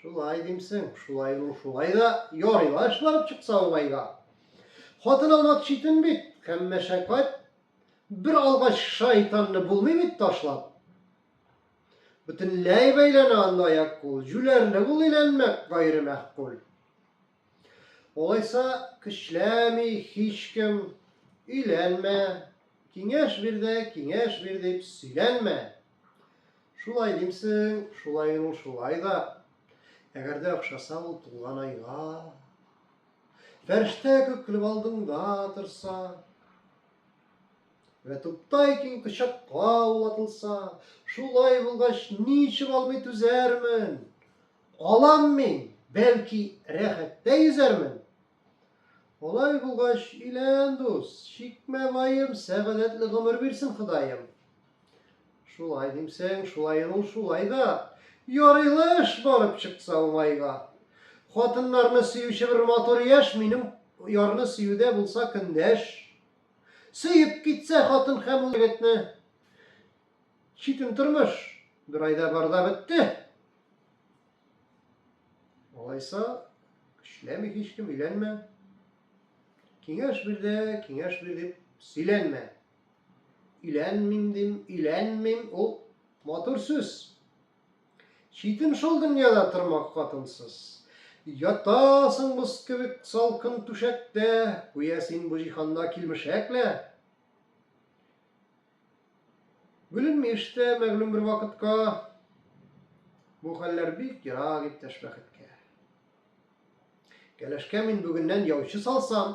Шулай димсең, шулай ул шулай да ярый ла эш барып чыкса уңайга. Хатын алмак читен бит, һәм мәшәкать. Бер алгач шайтанны булмый бит ташлап. Бөтенләй бәйләнә анда аяк кул, җүләрлек ул иләнмәк гайре мәхкул. Олайса көчләми һичкем, өйләнмә, киңәш бирде, киңәш бир дип сөйләнмә. Шулай димсең, шулай ул шулай да. Әгәр дә охшаса ул туңган айга. Фәрештә күк көлеп алдыңда торса. Вә туптай киң кочакка ул атылса. Шулай булгач, ничек алмый түзәрмен? Алам мин, бәлки, рәхәттә йөзәрмен. Алай булгач, илән дус, чикмә ваем, сәгадәтле гомер бирсен Ходаем. Шулай димсең, шулай ул шулай да. Ярыйлыш барып чыкса уңайга. Хатыннарны сөюче бер матур яшь, минем ярны сөюдә булса көндәш. Сөеп китсә хатын һәм ул егетне. Читен тормыш бер айда барда бетте. Алайса, көчләми һичкем, өйләнмә. Киңәш бирде, киңәш бир дип сөйләнмә. Өйләнмим дим, өйләнмим, ул матур сүз. Читен шул дөньяда тормак хатынсыз. Ятасың боз кебек салкын түшәктә, Гүя син бу җиһанда килмешәк лә. Бүленми эштә мәгълүм бер вакытка, Бу хәлләр бик ерак иптәш бәхеткә. Кәләшкә мин бүгеннән яучы салсам,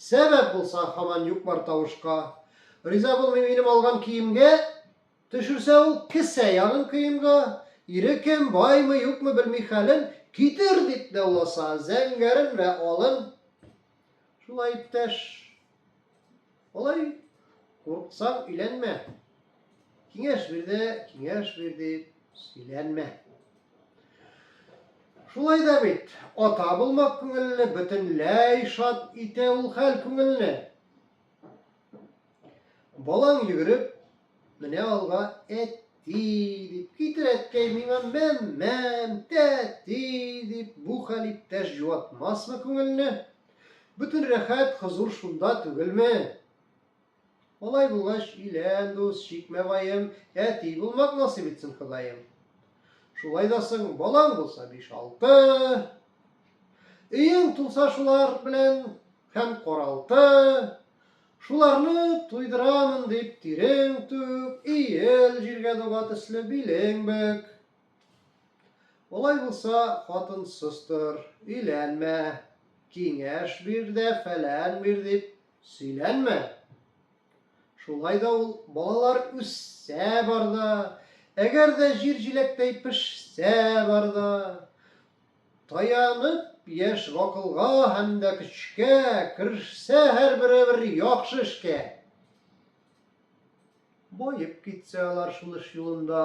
Сәбәп булса, һаман юк-бар тавышка. Риза булмый минем алган киемгә, Төшерсә ул кесә ягын көемга. Ире кем, баймы, юкмы, белми хәлен, Китер дип дауласа, зәңгәрен вә алын. Шулай, иптәш. Алай, курыксаң, өйләнмә. Киңәш бирде, киңәш бирде, сөйләнмә. Шулай да бит, ата булмак күңелле, бөтенләй шат итә ул хәл күңелне. Балаң йөгереп, менә алга әти дип китер әткәй миңа мәммәм, тәти дип бу хәл иптәш җуатмасмы күңелне? Бөтен рәхәт, хозур шунда түгелме? Алай булгач, илән, дус, чикмә ваем, Әти булмак насыйп итсен Ходаем. Шулай да соң, балаң булса биш-алты, Өең тулса шулар белән һәм каралты, Шуларны туйдырамын дип тирең түк, Иел җиргә дога төсле билең бөк. Алай булса, хатынсыз тор, өйләнмә, Киңәш бир дә фәлән бир дип Сөйләнмә. Шулай да ул балалар үссә барда, әгәр дә җир җиләктәй пешсә барда, таянып яшь гакылга һәм дә көчкә керешсә һәрбере бер яхшы эшкә. Баеп китсә алар шуныш юлында.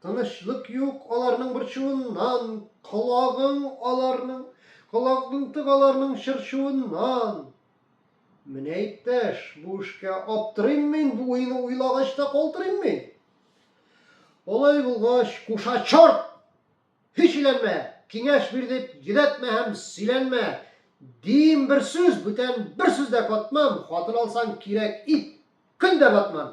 Тынычлык юк аларның борчуыннан, Колагың аларның, колагың тык аларның чырчуыннан. Менә, иптәш, бу эшкә аптырыйм мин, бу уйны уйлагач та калтырыйм мин. Алай булгач, куша чорт! Һич иләнмә, киңәш бир дип йөдәтмә һәм сөйләнмә. Дим бер сүз, бүтән бер сүз дә катмам, хатын алсаң кирәк ит, көн дә батман.